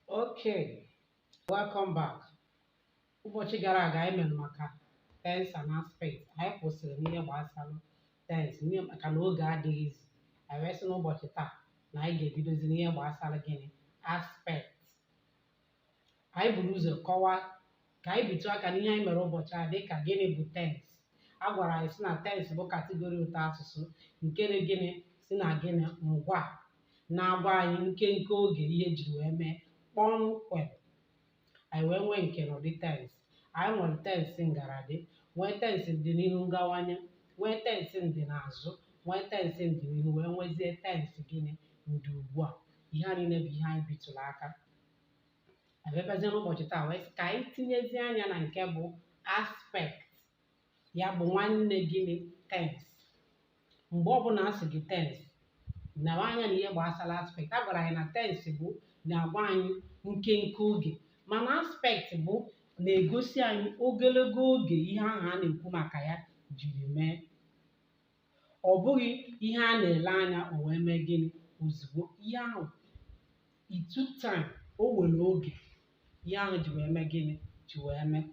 Okay, welcome back. Ụbọchị gara aga anyị mere maka tense and aspect. Anyị kwụsịrị n'ihe gbasara tense n'ihi maka na oge adịghịzi. Anyị wee sị n'ụbọchị taa na anyị ga-ebidozi n'ihe gbasara gịnị aspect. Anyị buru ụzọ kọwaa ka anyị bitụ aka n'ihe anyị mere ụbọchị a dịka gịnị bụ tense a gwara anyị sị na tense bụ kategori ụtọ asụsụ nke na gịnị si na gịnị ngwa na-agwa anyị nkenke oge ihe jiri wee mee kpọmkwem anyị wee nwee nkenụdị tense anyị nwere tense ngaradị nwee tense ndịnihu ngawanye nwee tense ndịnazụ nwee tense ndịnihu wee nwezie tense gịnị ndịugbua ihe a niile bụ ihe anyị bitụrụ aka a bịabazie n'ụbọchị taa wee sị ka anyị tinyezie anya na nke bụ aspect ya bụ nwanne gịnị tense mgbe ọbụla a sị gị tense nawa anya na ihe gbasara aspect a gwara anyị na tense bụ na-agwa anyị nkenke oge mana aspect bụ na-egosi anyị ogologo oge ihe ahụ a na-ekwu maka ya jiri mee ọ bụghị ihe a na-ele anya o wee mee gịnị ozugbo ihe ahụ It took time. O were oge. Ihe ahụ ji wee mee gịnị? Ji wee mee.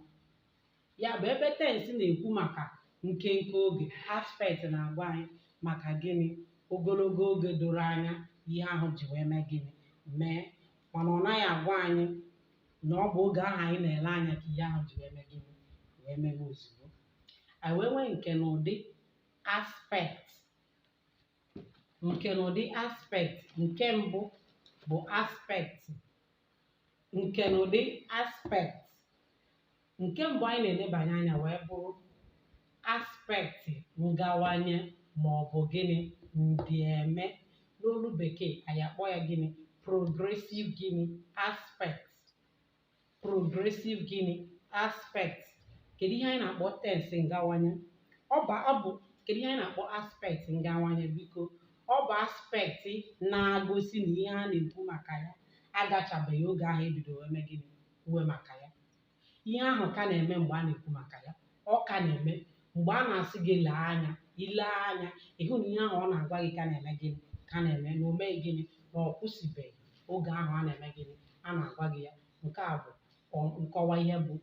Ya bụ ebe tense na-ekwu maka nkenke oge, aspect na-agwa anyị maka gịnị? Ogologo oge doro anya ihe ahụ ji wee mee gịnị? Mee. Mana ọ naghị agwa anyị na ọ bụ oge ahụ anyị na-ele anya ka ihe ahụ ji wee mee gịnị? Wee mewe ozugbo. Anyị wee nwee nkenụdị aspect. nkenụdị aspect nke mbụ bụ aspect nkenụdị aspect nke mbụ anyị na-elebanye anya wee bụrụ aspect ngawanye ma ọ bụ gịnị ndịeme n'olu bekee anyị akpọọ ya gịnị progressive gịnị aspect progressive gịnị aspect kedu ihe anyị na-akpọ tense ngawanye ọ bụ ọ bụ kedu ihe anyị na-akpọ aspect ngawanye biko ọ bụ aspect na-agosi na ihe a na-ekwu maka ya agachabeghị oge ahụ e bidoro wee mee gịnị kwuwe maka ya ihe ahụ ka na-eme mgbe a na-ekwu maka ya ọ ka na-eme mgbe a na-asị gị lee anya i lee anya ị hụ na ihe ahụ ọ na-agwa gị ka na-eme gịnị ka na-eme na o meghị gịnị na ọ kwụsịbeghị oge ahụ a na-eme gịnị a na-agwa gị ya nke a bụ ọ- nkọwa ihe bụ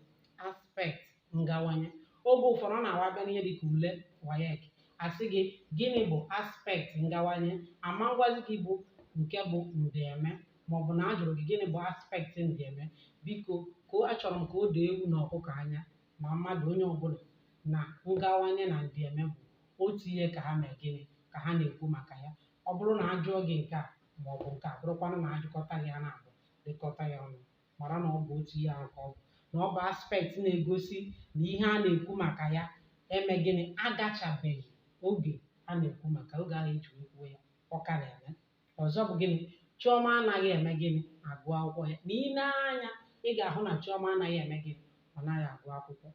aspect ngawanye oge ụfọdụ ọ na-awa abịa n'ihe dịka ule WAEC a sị gị gịnị bụ aspect ngawanye ama ngwazi gị bụ nke bụ ndịeme maọbụ na a jụrụ gị gịnị bụ aspect ndịeme biko ka o- achọrọ m ka o doo ewu na ọkụkọ anya ma mmadụ onye ọbụla na ngawanye na ndịeme bụ otu ihe ka ha mee gịnị ka ha na-ekwu maka ya ọ bụrụ na a jụọ gị nke a ma ọ bụ nke a bụrụkwanụ na ajụkọta gị ha naabọ jikọta ya ọnụ mara na ọ bụ otu ihe ahụ ka ọ bụ na ọ bụ aspect na-egosi na ihe a na-ekwu maka ya eme gịnị agachabeghị oge a na-ekwu maka oge ahụ eji kwuo ya ọ ka na-eme ọzọ bụ gịnị chiọma anaghị eme gịnị agụ akwụkwọ ya na i nee anya ị ga-ahụ na chiọma anaghị eme gịnị ọ naghị agụ akwụkwọ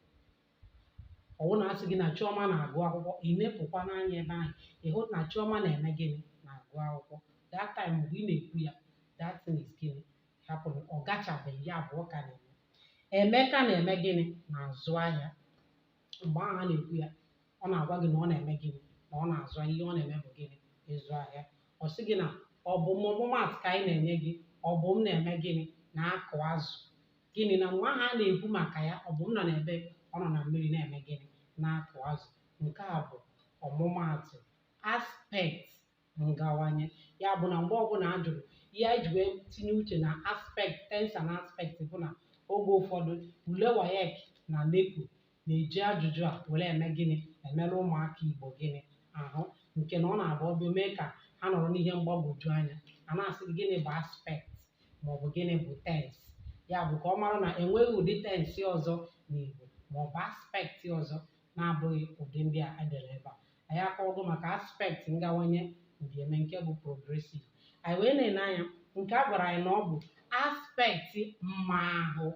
ọ bụrụ na a sị gị na chiọma na-agụ akwụkwọ ị nepụkwa n'anya ebe ahụ ị hụ na chiọma na-eme gịnị na-agụ akwụkwọ that time mgbe ị na-ekwu ya that thing is gịnị happening ọ gachabeghị ya bụ ọ ka na-eme emeka na-eme gịnị na-azụ ahịa mgbe ahụ a na-ekwu ya ọ na-agwa gị na ọ na-eme gịnị na ọ na-azụ ahịa ihe ọ na-eme bụ gịnị ịzụ ahịa ọ sị gị na ọbụm ọmụmaatụ ka anyị na-enye gị ọbụm na-eme gịnị na-akụ azụ gịnị na mgbe ahụ a na-ekwu maka ya ọbụm nọ n'ebe ọ nọ na mmiri na-eme gịnị na-akụ azụ nke a bụ ọmụmaatụ aspect ngawanye ya bụ na mgbe ọbụla a jụrụ ihe anyị ji wee tinye uche na aspect tense and aspect bụ na oge ụfọdụ ule waec na neco na-eji ajụjụ a were eme gịnị emerụ ụmụaka igbo gịnị ahụ nke na ọ na-abụ ọ bịa mee ka ha nọrọ n'ihe mgbagwoju anya a na-asị gịnị bụ aspect maọbụ gịnị bụ tense ya bụ ka ọ mara na enweghị ụdị tense ọzọ n'igbo maọbụ aspect ọzọ na-abụghị ụdị ndị a edere ebe a anyị akọwago maka aspect ngawanye ndịeme nke bụ progressive anyị wee na-ene anya nke a gwara anyị na ọ bụ aspect mma ahụ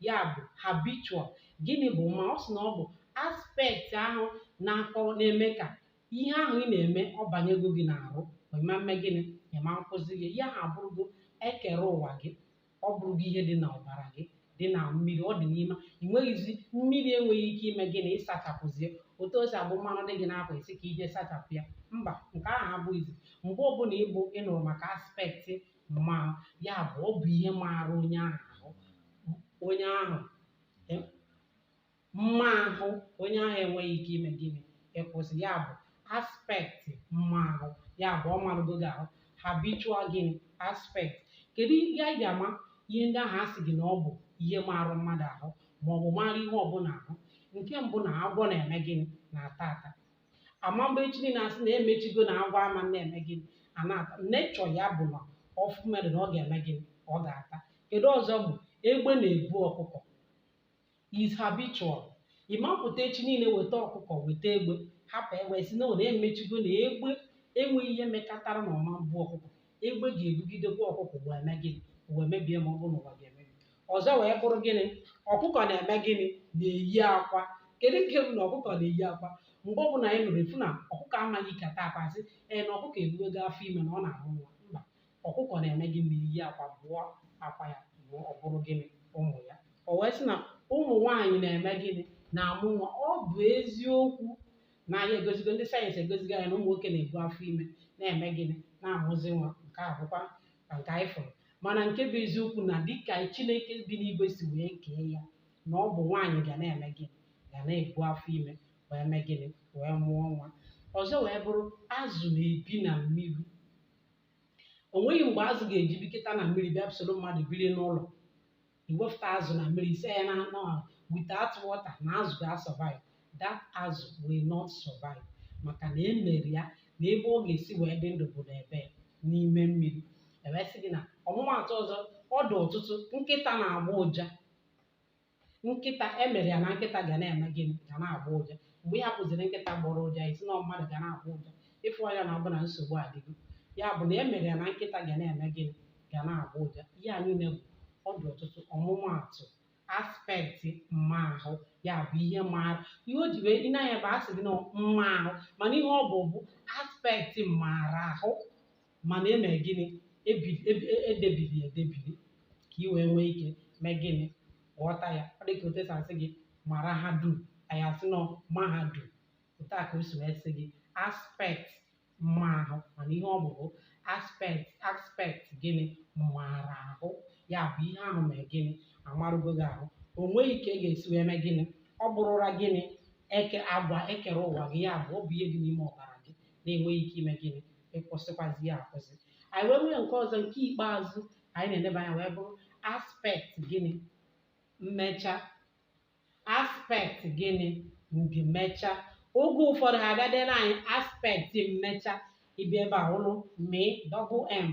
ya bụ habitual gịnị bụ mma ọ sị na ọ bụ aspect ahụ na-akọ na-eme ka ihe ahụ ị na-eme ọ banyego gị n'arụ ị ma-eme gịnị ị ma-akwụsịzi ihe ahụ abụrụgo ekere ụwa gị ọ bụrụgo ihe dị n'ọbara gị dị na mmiri ọ dị n'ime ị nweghịzi mmiri enweghị ike ime gịnị ịsachapụzi ya otu o si abụ mmanụ dị gị n'akwa ị sị ka i je sachapụ ya mba nke ahụ abụghịzi mgbe ọbụla ịbụ ịnụrụ maka aspect mma ya bụ ọ bụ ihe maara onye ahụ ahụ onye ahụ mma ahụ onye ahụ enweghị ike ime gịnị ịkwụsị ya bụ aspect mma ahụ ya bụ ọ marụgo gị ahụ habitual gịnị aspect kedu ihe anyị ga-ama ihe ndị ahụ a sị gị na ọ bụ ihe marụ mmadụ ahụ ma ọ bụ mara ihe ọbụla ahụ nke mbụ na agwọ na-eme gịnị na-ata ata ama mgbe echi niile a sị na emechigo na agwọ ama na-eme gịnị a na-ata nature ya bụ na ọ fụ mmadụ na ọ ga-eme gịnị ọ ga-ata kedu ọzọ bụ egbe na-ebu ọkụkọ is habitual ị ma-apụta echi niile weta ọkụkọ weta egbe hapụ egbe sị na ọ na-emechigo na egbe enweghị ihe mekatara na ọ ma-ebu ọkụkọ egbe ga-ebugidekwa ọkụkọ wee mee gịnị ụwa emebie ma ọ bụ na ụwa ga-emebi ọzọ wee bụrụ gịnị ọkụkọ na-eme gịnị na-eyi akwa kedu nke bụ na ọkụkọ na-eyi akwa mgbe ọ bụla anyị nụrụ efu na ọkụkọ amaghị ikata akwa sị ee na ọkụkọ ebuwego afọ ime na ọ na-amụ nwa mba Ọkụkọ na-eme gịnị? Na-eyi akwa, bụọ akwa ya, mụọ, ọ bụrụ gịnị? Ụmụ ya. O wee sị na ụmụ nwaanyị na-eme gịnị? Na-amụ nwa. Ọ bụ eziokwu na anyị egosigo, ndị sayensị egosigo anyị na ụmụ nwoke na-ebu afọ ime na-eme gịnị? Na-amụzi nwa. Nke a bụkwa na nke anyị fụrụ. Mana nke bụ eziokwu na dịka Chineke bi n'igwe si wee kee ya, na ọ bụ nwaanyị ga na-eme gịnị? Ga na-ebu afọ ime wee mee gịnị? Wee mụọ nwa. Ọzọ wee bụrụ azụ na-ebi na mmiri. o nweghị mgbe azụ ga-eji biketa na mmiri bịa soro mmadụ biri n'ụlọ i wepụta azụ na mmiri ị sị ya na anọ ahụ without water na azụ ga-asurvive that azụ will not survive maka na e mere ya na ebe ọ ga-esi wee dị ndụ bụ n'ebee n'ime mmiri e wee sị gị na ọmụmaatụ ọzọ ọ dị ọtụtụ nkịta na-agba ụja nkịta e mere ya na nkịta ga na-eme gịnị ga na-agbọ ụja mgbe ị hapụziri nkịta gbọrọ ụja ị sị na mmadụ ga na-agbọ ụja ịfụ anya na ọ bụ na nsogbu adịgo ya bụ na e mere ya na nkịta ga na-eme gịnị ga na-agbọ ụja ihe a niile bụ ọ dị ọtụtụ ọmụmaatụ aspekti mma ahụ ya bụ ihe mara ihe o ji wee ị na-anụ ya bụ a sị gị na mma ahụ mana ihe ọ bụ bụ aspekti mara ahụ mana e mee gịnị Ebi- ebi- e- e debiri ya edebiri ka i wee nwee ike mee gịnị ghọta ya ọ dị ka otu e si asị gị mara ha dum anyị asị na mahadum otu a ka o si wee sị gị aspekt mma ahụ mana ihe ọ bụ bụ aspekt aspekt gịnị mara ahụ ya bụ ihe ahụ mee gịnị amarụgo gị ahụ o nweghị ka ị ga-esi wee mee gịnị ọ bụrụra gịnị eke agwa ekere ụwa gị ya bụ ọ bụ ihe dị n'ime ọbara gị na-enweghị ike ime gịnị ịkwụsịkwazi ya akwụsị anyị wee nwee nke ọzọ nke ikpeazụ anyị na-eneba anya wee bụrụ aspekt gịnị mmecha aspekt gịnị ndịmecha oge ụfọdụ ha ga-edere anyị aspekt mmecha ị bịa ebe a ụlụ mị double m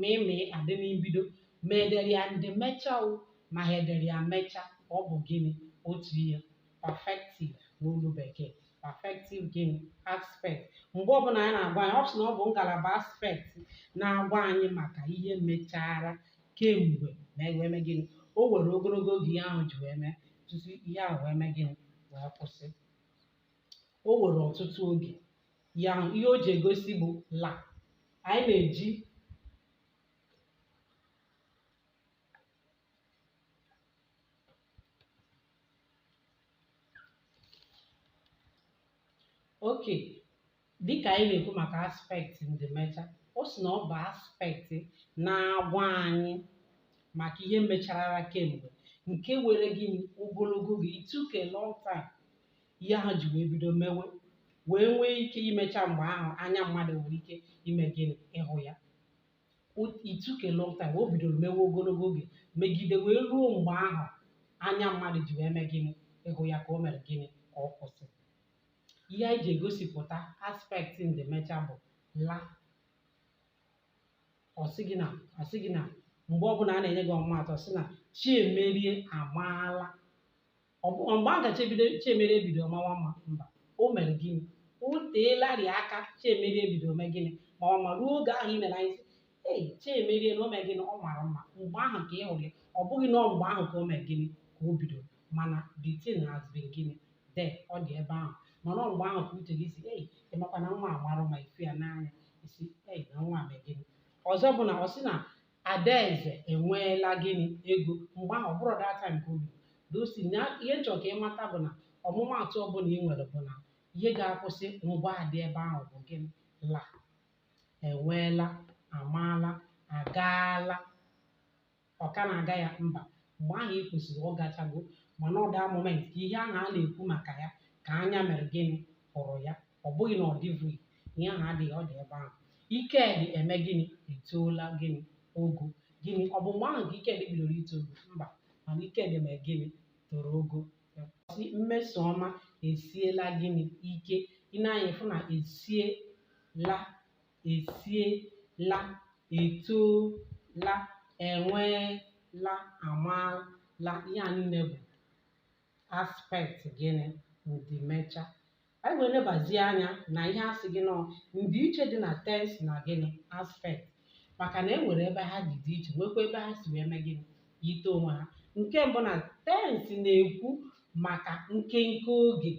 mị mị adị na mbido ma e dere ya ndịmecha o ma ha dere ya mmecha ọ bụ gịnị otu ihe perfective n'olu bekee perfective gịnị aspect mgbe ọbụla anyị na-agwa anyị ọ sị na ọ bụ ngalaba aspect na-agwa anyị maka ihe mechara kemgbe ma wee mee gịnị o were ogologo oge ihe ahụ ji wee mee tutu ihe ahụ wee mee gịnị wee kwụsị o were ọtụtụ oge ihe ahụ ihe o ji egosi bụ la anyị na-eji oke dịka anyị na-ekwu maka aspekti ndịmecha o si na ọ bụ aspekti na-agwa anyị maka ihe mecharara kemgbe nke were gịnị ogologo oge it took a long time ihe ahụ ji wee bido mewe wee nwee ike imecha mgbe ahụ anya mmadụ nwere ike ime gịnị ịhụ ya O- it took a long time o bidoro mewe ogologo oge megide wee ruo mgbe ahụ anya mmadụ ji wee mee gịnị ịhụ ya ka o mere gịnị ka ọ kwụsị ihe anyị ji egosipụta aspekt ndịmecha bụ la ọ sị gị na ọ sị gị na mgbe ọbụla a na-enye gị ọmụmaatụ ọ sị na Chiemerie amaala ọ bụ mgbe ahụ ka Chiemerie bidoro mawa mma mba o mere gịnị o teelarị aka Chiemerie bidoro mee gịnị mawa mma ruo oge ahụ ị mere anyị sị ei Chiemerie na o mere gịnị ọ mara mma mgbe ahụ ka ị hụrụ ya ọ bụghị na ọ mgbe ahụ ka o mere gịnị ka o bidoro mana the thing has been gịnị there ọ dị ebe ahụ mana ọ mgbe ahụ ka uche gị sị ei ị makwa na nwa a mara mma ị fụ ya n'anya ị sị ei na nwa a mere gịnị ọzọ bụ na ọ sị na Adaeze enweela gịnị ego mgbe ahụ ọ bụrụ that time ka o bido so ihe m chọrọ ka ị mata bụ na ọmụmaatụ ọbụla ị nwere bụ na ihe ga-akwụsị ngwaa dị ebe ahụ bụ gịnị la enweela amaala agaala ọ ka na-aga ya mba mgbe ahụ i kwuziri ọ gachago mana ọ that moment ka ihe ahụ a na-ekwu maka ya ka anya mere gịnị hụrụ ya ọ bụghị na ọ dịvụghị ihe ahụ adịghị ọ dị ebe ahụ Ikedi emee gịnị etoola gịnị ogo gịnị ọ bụ mgbe ahụ ka Ikedi bidoro ito ogo mba mana Ikedi mere gịnị toro ogo sị Mmesoma esiela gịnị ike ị nee anya fụ na esiela esiela etoola enweela amaala ihe a niile bụ aspect gịnị ndịmecha Anyị wee nebazie anya na ihe a sị gị na ọ ndịiche dị na tens na gịnị aspekt maka na e nwere ebe ha dị dị iche nwekwa ebe ha si wee mee gịnị yite onwe ha nke mbụ na tens na-ekwu maka nkenke oge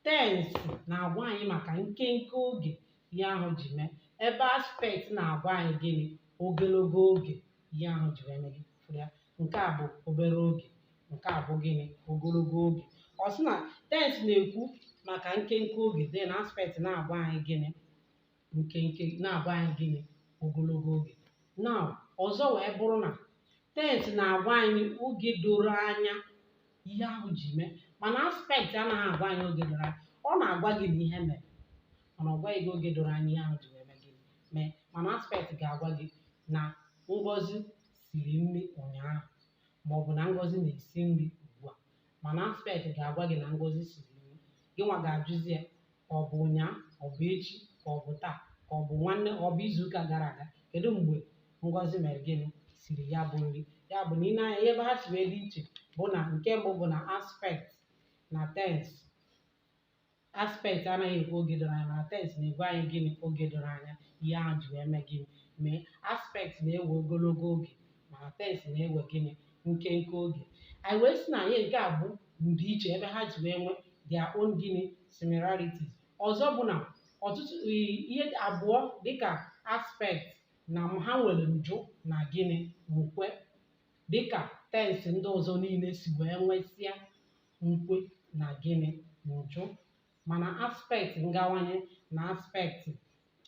tens na-agwa anyị maka nkenke oge ihe ahụ ji mee ebe aspekt na-agwa anyị gịnị ogologo oge ihe ahụ ji wee mee gị fụrụ ya nke a bụ obere oge nke a bụ gịnị ogologo oge ọ sị na tens na-ekwu maka nkenke oge then aspekt na-agwa anyị gịnị nkenke na-agwa anyị gịnị ogologo oge now ọzọ wee bụrụ na tens na-agwa anyị oge doro anya ihe ahụ ji mee mana aspekt anaghị agwa anyị oge doro anya ọ na-agwa gị na ihe mere mana ọ gwaghị gị oge doro anya ihe ahụ ji wee mee gịnị mee mana aspekt ga-agwa gị na Ngozi siri nri ụnyaahụ ma ọ bụ na Ngozi na-esi nri ugbu a mana aspect ga-agwa gị na Ngozi siri nri gị nwa ga-ajụzi ya ọ bụ ụnyaahụ ọ bụ echi ka ọ bụ taa ka ọ bụ nwanne ọ bụ izuụka gara aga kedu mgbe Ngozi mere gịnị siri ya bụ nri ya bụ na i nee anya ebe ha si wee dị iche bụ na nke mbụ bụ na aspect na tens aspect anaghị ekwu oge doro anya mana tens na-agwa anyị gịnị oge doro anya ihe ahụ ji wee mee gịnị mee aspect na-ewe ogologo oge mana tens na-ewe gịnị nkenke oge anyị wee sị na anyị nke a bụ ndịiche ebe ha ji wee nwee their own gịnị similarities ọzọ bụ na ọtụtụ ihe abụọ dịka aspect na ha nwere njụ na gịnị nkwe dịka tensị ndị ọzọ niile si wee nwesịa nkwe na gịnị njụ mana aspekt ngawanye na aspekt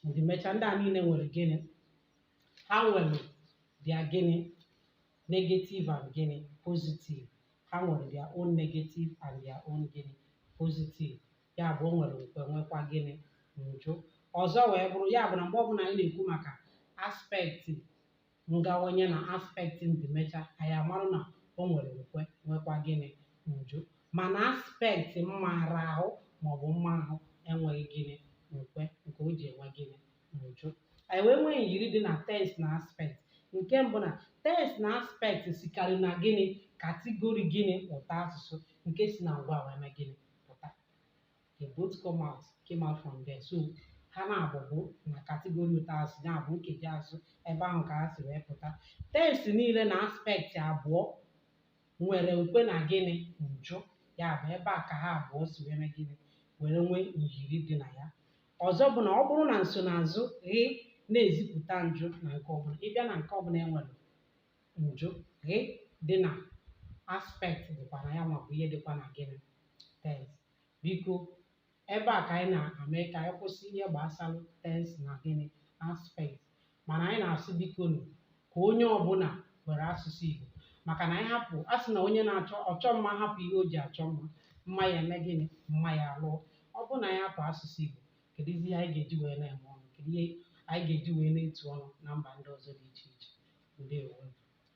ndịmecha ndị a niile nwere gịnị ha nwere their gịnị negative and gịnị positive ha nwere their own negative and their own gịnị positive ya bụ o nwere nkwe nwekwa gịnị njụ ọzọ wee bụrụ ya bụ na mgbe ọbụla anyị na-ekwu maka aspekti ngawanye na aspekti ndịmecha anyị amarụ na o nwere nkwe nwekwa gịnị njụ mana aspekti mmaraahụ maọbụ mmaahụ enweghị gịnị nkwe nke o ji enwe gịnị njụ anyị wee nwee myiri dị na tens na aspekt nke mbụ na tens na aspekt sikarị na gịnị katigori gịnị ụtọ asụsụ nke si na ngwa wee mee gịnị pụta they both come out came out from there so ha naabọ bụ na kategori ụtọ asụsụ ya bụ nkeji asụsụ ebe ahụ ka ha si wee pụta tens niile na aspekti abụọ nwere nkwe na gịnị njụ ya bụ ebe a ka ha abụọ si wee mee gịnị were nwee myiri dị na ya ọzọ bụ na ọ bụrụ na nsonaazụ ghị na-ezipụta njụ na nke ọbụla ị bịa na nke ọbụla e nwere njụ ghị dị na aspekt dịkwa na ya maọbụ ihe dịkwa na gịnị tens biko ebe a ka anyị na-eme ka anyị kwụsị ihe gbasara tens na gịnị aspekt mana anyị na-asị biko nụ ka onye ọbụla were asụsụ Igbo maka na anyị hapụ a sị na onye na-achọ ọchọ mma hapụ ihe o ji achọ mma mma ya eme gịnị mma ya alụọ ọ bụrụ na anyị hapụ asụsụ Igbo kedu ihe anyị ga-eji wee na-eme ọnụ kedu ihe anyị ga-eji wee na-etu ọnụ na mba ndị ọzọ dị iche iche ndewo